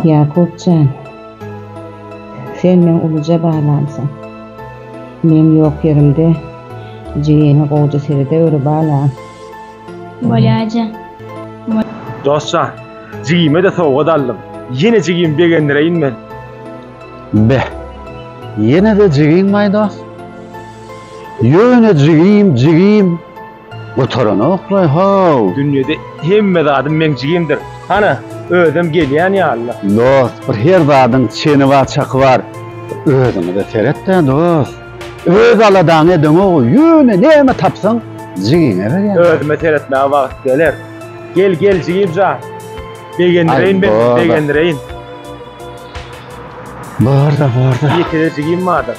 Ýakup jan, sen meň uluja balamsyň. Men ýok ýerimde jigeniň gowja serede öri balam. Bolýaja, bol. Dost jan, jigime-de sowgat aldym. Ýene jigimi begendireýin men. Be, ýene-de jigiňmaý dost? Ýöne jigim, jigim. Gutaranokly-how! Dünýede hemme zadym meň jigimdir. Hana, özem gelýän ýaly-la. Dost, bir her zadyň çeni bar, çaky bar. Bir özüňe-de seret-dä, dost. Öz aladaňy edeňogu, ýöne näme tapsaň, jigiňe berýäň. Özüme seretmäge wagt geler. Gel, gel, jigim jan. Begendireýin men, begendireýin. Bar-da, bar-da. Ýeke-de jigim bardyr.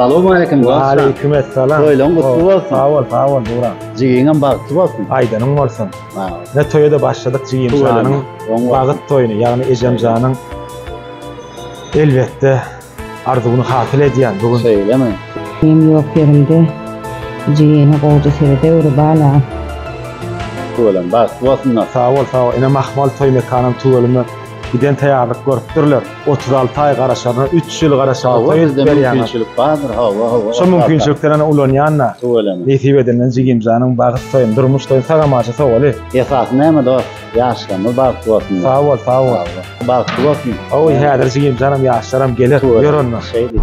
Salam aleyküm dostlar. Aleyküm esselam. Toýlaň gutly bolsun. Sag bol, sag bol Burak. Jigiňem bagtly bolsun. Aýdanyň bolsun. Ha. Ne toýa da başladyk jigim şanyň bagyt toýuny, ýagny ejem janyň elbetde arzuwyny hasyl edýän bu gün. Şeýlemi? Benim ýok ýerimde jigini gowja seredeweri bala. Tüweleme bagtly bolsunlar. Sag bol, sag bol. Ene Mahmal toý mekanam tüweleme. Giden taýýarlyk görüpdirler. Otuz alty aý garaşaryna üç ýyl garaşaga söýüp berýäňiz. Şu mümkinçilikden ulanýan-da. Tüweleme. Nesip edende jigimjanyň bagyt toýuny, durmuş toýuny sagamaja sowaly. Esasy näme dost? Ýaşlarymyz bagtly bolsun. Sag bol, sag bol. Bagtly bolsun. Hawa, häzir jigimjanam, ýaşlaram geler. Ýör onda. Şeýdip.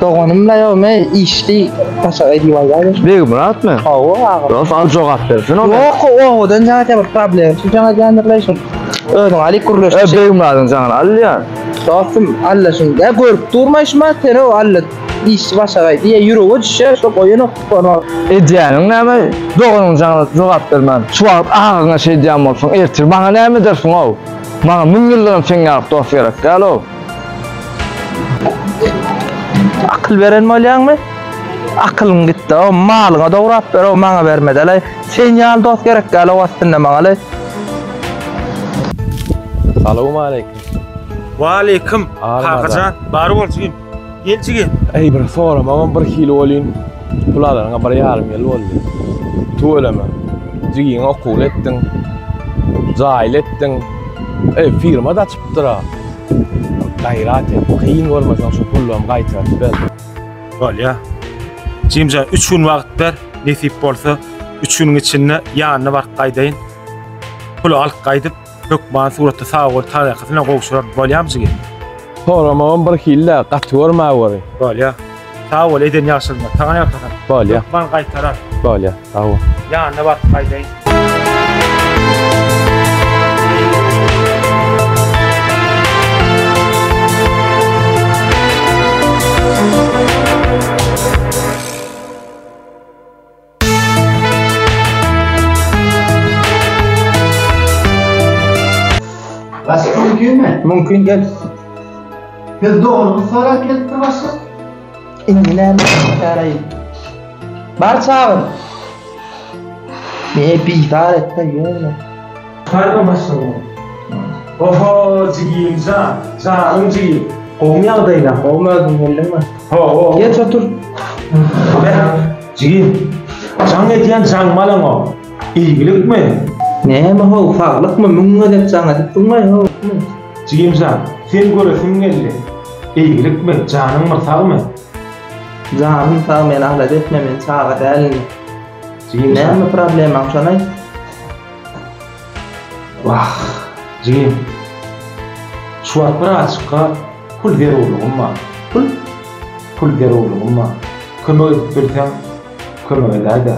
Doganym la ýok, men işdi başa edip alýar. Beg Murat mı? Hawa aga. Dost al jogap bersin o. Ýok, owadan jaňa bir problem. Şu jaňa jaňdyrlaýşyň. Özüň alyp gürleş. E Beg Muradyň jaňyny alýa. Dostum, alla şuny da görüp durma şuma, sen o alla iş başagaý diýe ýürege düşýär, şo goýanok tutanok. Edýäniň näme? Doganyň jaňyna jogap bermän, şu wagt agaňa şeýdýän bolsaň, ertir maňa näme edersiň-ow? Maňa müň ýyldanam seň ýaly dost gerek däl-ow. Akyl beren bolýaňmy? Akylyň gitdi-ow, malyňa dograp ber-ow, maňa bermedel-aý. Sen ýaly dost gerek däl ow aslynda maňa-laý. Salowmaleýkim. Waleýkim, kakajan. Bar bol jigim. Gel jigim. Äý, bir soramagam bir hili welin, pul alanyňa bir ýarym ýyl boldy. Tüweleme. Jigiňi okuwly etdiň. Jaýly etdiň. Eý, firma-da Dura. Gaýrat et. Kyn görmeseň şu pullamy gaýtaryp ber. Bolýa. Jimjan üç gün wagt ber, nesip bolsa üç günüň içinde ýanyna baryp gaýdaýyn. Puly alyp gaýdyp, hökman suratda sag bol tarykasyna gowşuraryn. Bolýamy jigim? Soramagam birhili-de, gaty görmä göri. Bolýa. Sag bol eden ýagşylygyňa. Saňa ýalkasam. Bolýa. Hökman gaýtarar. Bolýa. Sag bol. Ýanyna baryp gaýdaýyn. Başka mümkün mü? Mümkün gel. Biz doğrunu sorak gelip bir başka. İndi ne çarayı? Bar çağır. Ne bizar etme yürü. Salam başlygyma. Oho jigimjan janyň jigim. Gowmy ýagdaýlaň gowmy özüň geldiňmi. Hawa. Geç otur. Beh jigim jaň edýän jaň malaňa ilgilikmi. Näme how saglykmy müň gezek jaň edip durmaý how hikmet. Jigimjan seni göresim geldi ilgilikmi janyň bir sagmy. Janym sag meni alada etme men çaga dälin. Jigimjan. Näme problemaň şony aýt. Wah, jigim. Şu wagt bir azjykka pul zerurlygym bar. Pul? Pul zerurlygym bar. Kömek edip bilseň, kömek edäý-dä.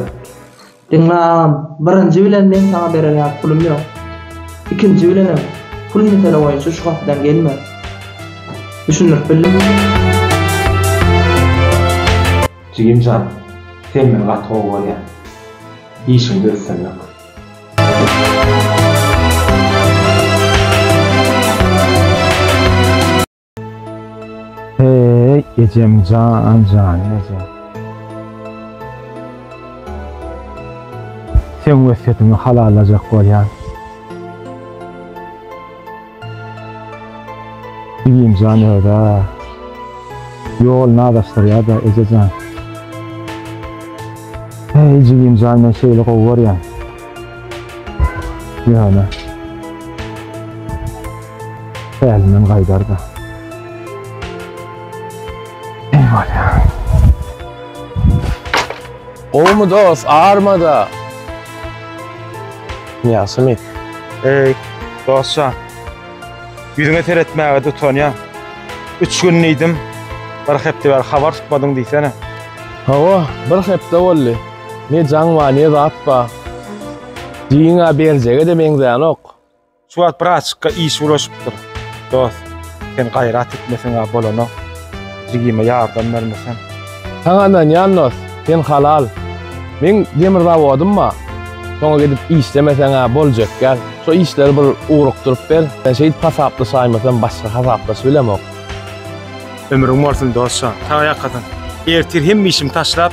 Diňle agam, birinji bilen meň saňa bererýan pulum ýok. Ikinji bilenem, pul mesele boýunça şu gapydan gelme. Düşündirip bildimmi? Jigim jan sen men gaty gowy görýän işiňde üstünlik. Heeý ejem jan janyň ejem. Seň wesýetiňi halallajak bolýan. Jigimjan özi ýoluny azaşdyrýada ejejan. Heý jigimjan men şeýle gowy görýän. Ýöne Älimden gaýdarda. Eý bolýa. Gowmy dos armada. Ýagşymy? Eý, dostjan. Ýüzüňe seretmäge-de utanýan. Üç gün diýdim, bir hepde bäri habar tutmadyň diýsene. Hawa, bir hepde boldy. Ne jaň bar, ne zat bar. Diýiň-ä berjege-de meňzänok. Şu wagt bir açykka iş ulaşypdyr. Dost, sen gaýrat etmeseň-ä bolanok. Jigime ýardam bermeseň. Saňa ynanýan dost, sen halal. Meň demir zawodym bar. Şoňa gidip işlemeseň-ä boljak däl. Şo işleri bir ugrukdyryp ber. Men şeýdip hasaplaşaýmasam başga hasaplaş bilemok. Ömrüň bolsun dost jan. Sag ýakadan. Ertir hemme işimi taşlap,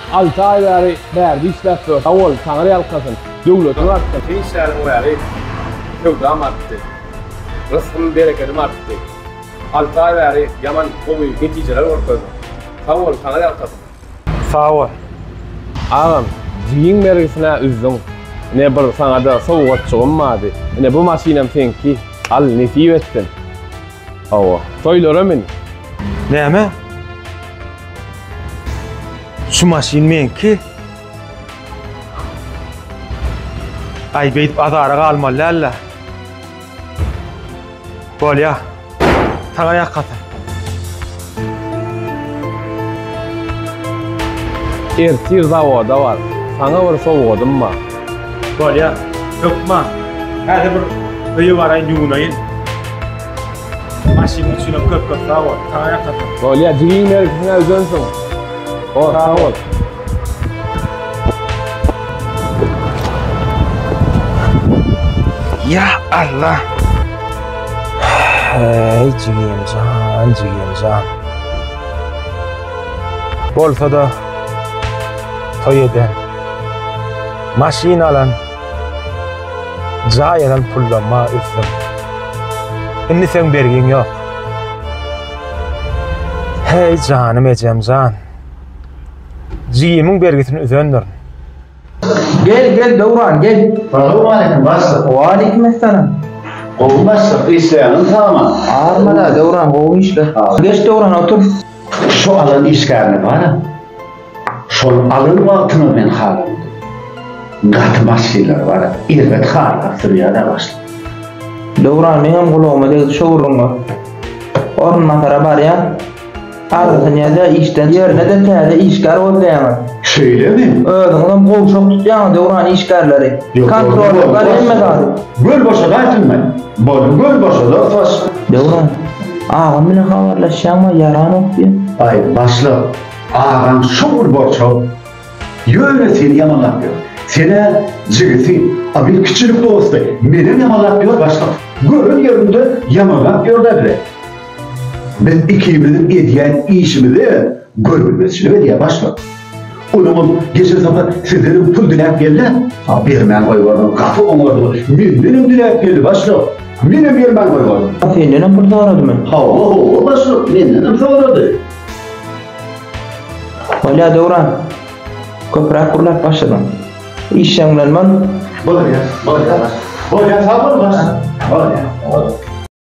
Alty aý bäri bärde işläp dur. Sag bol, Taňry ýalkasyn. Döwletiň artsyn. Sen işläniň bäri söwdam artdy. Rysgym, berekedim artdy. Alty aý bäri ýaman gowy netijeler görkezdiň. Sag bol, Taňry ýalkasyn. Sag bol. Agam, jigiň bergisine üzdüň. Ine bir saňada sowgatjygym bardy. Ine bu maşynam seňki. Al, nesip etsin. Hawa. Toýlara min. Näme? Şu maşyn meňki. Aý beýdip azara galmaly däl-le. Bolýa. Saňa ýakasy. Ertir zawoda bar. Saňa bir sowgadym bar. Bolýar. Hökman. Häzir bir öýe baraýyn, ýuwunaýyn. Maşynyň üçinem köp-köp sag bol. Saňa ýakasyn. Bolýar, jigiň mergisine öýdensiň. Hor, sag bol. Ýa Allah! Hey jigim can, jigim can. Bolsa da toy eden, maşyn alan, cay alan pullama üzdüm. Şimdi sen bergin yok. Hey canım ecem can. Cigimin bergisini üzendirin. Gel gel Döwran gel. Salam aleyküm başlyk. Waleýkim essalam. Gowy başlyk işleýäňiz saman. Armada Döwran gowy işle. Geç Döwran otur. Şu alan işgärini bar. Şol alan wagtyna men halan. Gaty maşynlar bar. Erbet harlap sürýär başlyk. Döwran meňem gulagyma degdi şu gürrüňe. Orunbasara barýan. Agzysyn ýa-da işden ýerine-de täze işgär gözleýäňiz. Şeýlemi? Özüňizem gowşak tutýaňyz döwran işgärleri. Kontrolýorlar hemme zady. Göl boşada aýtylmaý. Boluň göl boşada fs. Döwran. Agam bilen habarlaşýaňma ýaranok diýen. Aý başlyk. Agaň şowly bolçaw. Ýöne seni ýamanlap ýör. Senä jigisi, a bir kiçilik dosty. Menem ýamanlap ýör başlyk. Gören ýerinde ýamanlap ýör-dä bile. Biz ikimiziň edýän işimize görülmezçilik edýär başlyk. Onuňam geçen sapar sizdenem pul diläp geldi-ä. A bermän goýberdim, gaty oňardylar. Mendenem diläp geldi başlyk. Menem bermän goýberdym. A sendenem pul soradymy? Hawa, hawa başlyk, mendenem sorady. Bolýar Döwran. Köpräk gürläp başladyň. Iş ýaňlanman. Bolýar, bolýar başlyk. Bolýar, sag bol başlyk. Bolýar.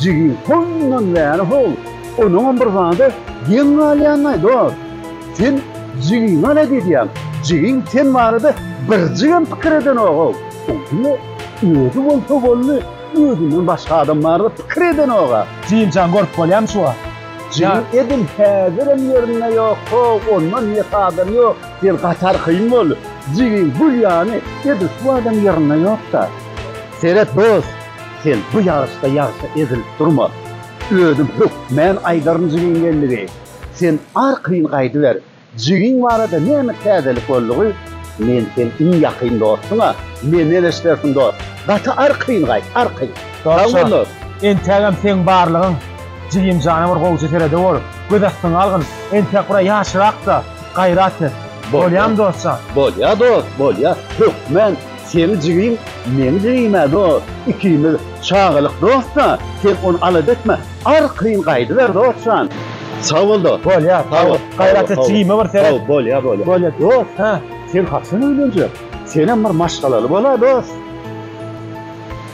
Jigi hoýundan bäri hol, onuňam bir zady geň galýanlaý dost. Sen jigiňi alada edýäň, jigiň sen barada birjigem pikir edenogow. Ol diňe özi bolsa boldy, özünden başga adam barada pikir edenoga. Jigimjan görüp bolýamy şu wagt? Jigim edil häzirem ýerinde ýok, hoow onda niýet adam ýok, sen gatar kyn boldy. Jigiň gül ýany edil şu wagtam ýerinde ýokda. Seret dost, Sen bu ýaryşda ýagşa ezilip durma. Özüm hökmän aýdaryn jigiň gelnigi. Sen arkaýyn gaýdyber. Jigiň barada näme täzelik boldugy? Men seň iň ýakyn dostuň-a. Mende neşdersiň dost. Gaty arkaýyn gaýt, arkaýyn. Sag bol dost. Entägem seň barlygyň. Jigim jana bir gowja seredewor. Göz astyňa algyn. Entäk bir-ä ýaşyrak-da. Gaýrat et. Bolýamy dostjan? Bolýa dost, bolýa. Hökmän. Seni jigim, meni jigimä dost, ikimiz çagalyk dost-da, sen ony alada etme, arkaýyn gaýdyber dost jan. Sag bol dost. Bolýa, sag bol. Gaýrat et, jigime bir seret. Sag bol, bolýa, bolýa. Bolýa dost, hä? Sen haçan öýlenjek? Senem bir maşgalaly bola dost.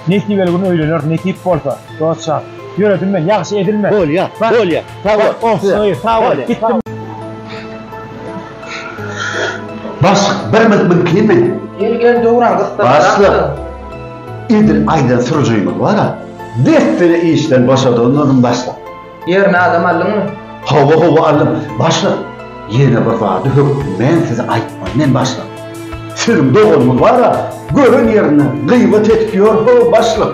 Nesibeli gün öýleneris, nesip bolsa, dost jan. Ýöredim men, ýagşy edilme. Bolýa, bolýa. Sag bol. Oh, söýe, sag bol. Gitdim. Bas, bir mil mil kimi? Gel gel döwran gysdyr. Basla. Edil aydan sürücüyümüz var ha. Destine işten başa dönmedim başla. Yerine adam aldın mı? Hava hava aldım. Başla. Yine bir vardı hök. Men size aytmam. Men başla. Sizin doğumuz var ha. Görün yerine. Gıyva tetkiyor. Hava başla.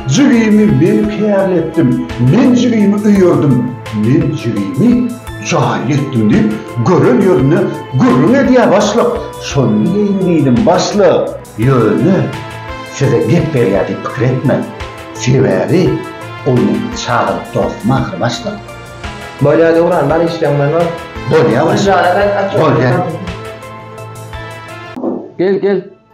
Jigimi men kärletdim, men jigimi öýerdim, men jigimi jaýly etdim diýip, gören ýerinde gürrüň edýär başlyk. Şony diýeýin diýdim, başlyk. Ýöne size gep berýär diýip pikir etmäň. Sebäbi ol meniň çagalyk dostum ahyry, başlyk. Bolýar Döwran, bar işleň bilen bar. Bolýar, başlyk. Bolýar. Gel, gel.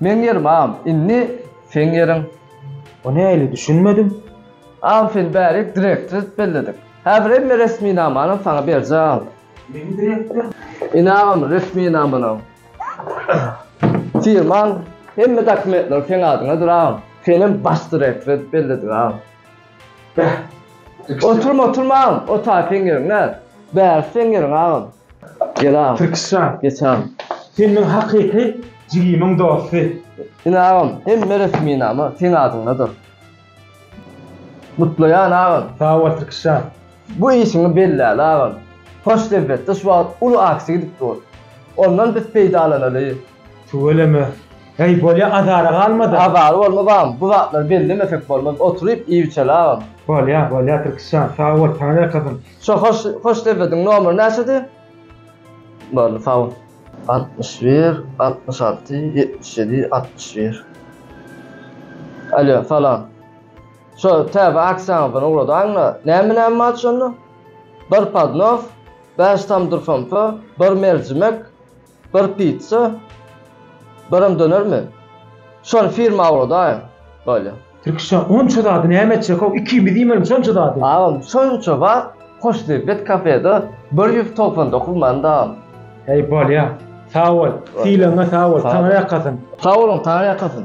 Meň ýerim am indi seň ýeriň. O näli düşünmedim. Am seni bärek direktor edip belledik. Häzir hemme resminamany saňa berjäň. Meni direktor? Ine agam resminamalaň. Firmaň hemme dokumentleri seň adyňadyr agam. Senem baş direktor edip belledik agam. Beh. Oturma, oturma agam. Otar seň ýeriň näz. Bärsi seň ýeriň agam. Gel agam. Tirkişjan. Geç agam. Sen meň hakyky jigimiň dosty. Ine agam, hemme resminama seň adyňdadyr. Gutlaýan agam. Sag bol Tirkişjan. Bu işiňi belläli agam. Hoşdebetde şu wagt uly aksiýa gidip dur. Ondan biz peýdalanaly. Tüweleme. Heý, bolýa, azara galma-da. Azar bolma, bagym. Bu zatlary bellemesek bolmaz. Oturyp iýibiçeli, agam. Bolýa, bolýa, Tirkis jan. Sag bol, saňa ýakasyn. Şo hoş sebediň nomeri näçedi? Boldy, sag bol. Altmyş bir, altmyş alty, ýetmiş ýedi, altmyş bir. Alýo, salam. Şo täze aksiýaňyzdan ugradaň-da. Näme näme bar şonda? Bir podnos, bäş tamdyr somsa, bir merjimek. Bir pizza, birem dönermi? Şony firma ugradaýyň. Bolýa. Türkçe onça zady näme etjek-ow, ikimiz iýmeli şonça zady. Agam, şonça wagt Hoşniýet kafede bir ýüz togsan dokuz manadam. Heý, bolýa. Sag bol. Sylagyňa sag bol. Taňry ýakasyn. Sag boluň, Taňry ýakasyn.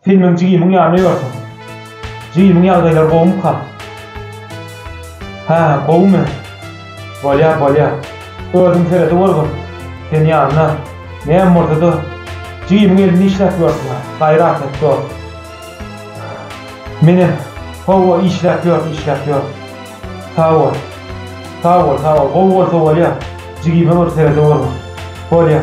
Sen meň jigimiň ýanyna ýörsiň. Jigimiň ýagdaýlary gowumyka? Hä, gowumy? Bolýar, bolýar. Özüň seredeweriwin. Sen ýanyna, näme bolsa-da, jigimiň elini işläp ýörsiň-ä. Gaýrat et, dost. Menem, hawa, işläp ýör, işläp ýör. Sag bol. Sag bol, sag bol. Gowy bolsa bolýar. Jigime bir seredeweriwin. Bolýar.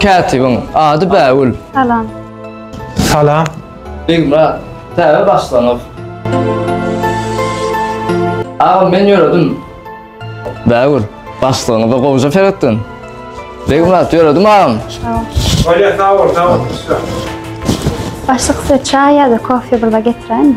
Kätibiň ady Bägül. Salam. Salam. Begmyrat, täze başlangyk. Agam men ýöredim. Bägül, başlygyňyza gowja seretdim. Begmyrat, ýöredim agam. Olya sağ ol, sağ ol. Başlyk size çay ya da kofe burada getirelim mi?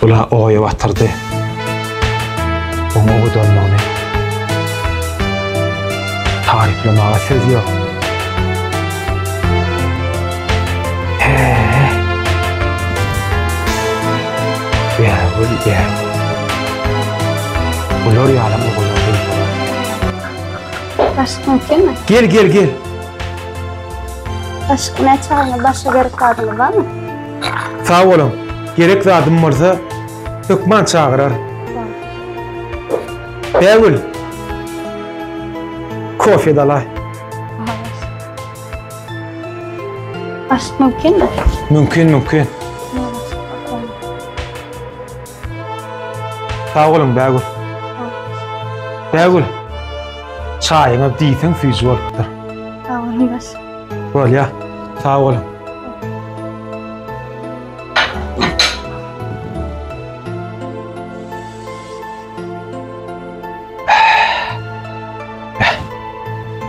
Bula oýa batyrdy. Oňa owadanlygyny taryplamaga söz ýok. He-he. Bägül, bägül. Bular ýaly owadan gyzlara. Başlyk, mümkinmi? Gel, gel, gel. Başga ne çagyňyz, başga gerek zadyňyz barmy? Sag boluň. Gerek zadym bolsa, hökman çagyrar. Bägül. Kofe dalaý. Aşk mümkinmi? Mümkin, mümkin. Sag boluň Bägül. Bägül. Çaýyňyz diýseň süýji bolupdyr. Sag boluň baş. Bolýa. Sag boluň.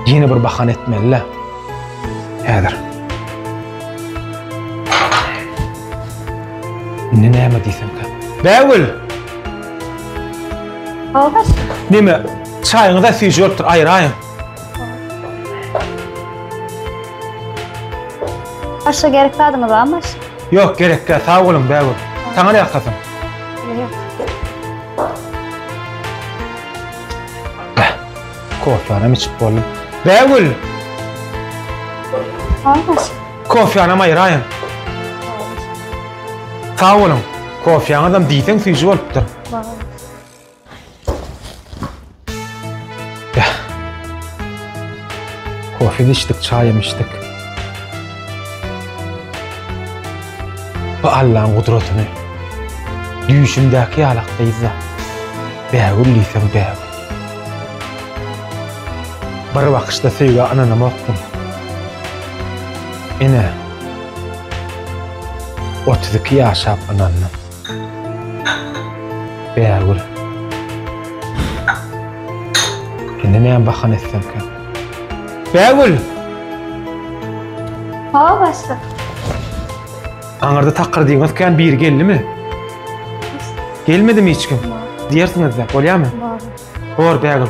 Ýene bir bahana etmeli-le. Häzir. Indi näme diýsemkä? Bägül! Algaş. Näme? Çaýyňyza süýji bolupdyr, aýraýyň. Başga gerek zadyňyz barmy? Ýok, gerek däl, sag boluň, bägül. Saňa näme hasaň? Bäh, kofýanam içip boldum. Bägül! Haýyş. Kofýanam aýraýyň. Sag boluň. Kofýaňyzam diýseň süýji bolupdyr. Sag bol. Kofem içdik, çaýam içdik. Bu Allaň gudratyny düýşümdäki ýalakdyzda bägül diýsem bägül. Bir bakyşda söýgä ynanamakdym. Ine, 32 ýaşap ynandym. Bärgül. Indi näme bahana etsemkä? Bärgül! Hawa başlyk. Aňyrda takyr diýňiz kän biri geldimi? Gelmedimi hiç kim? Diýersiňiz-de, bolýarmy? Bor Bärgül.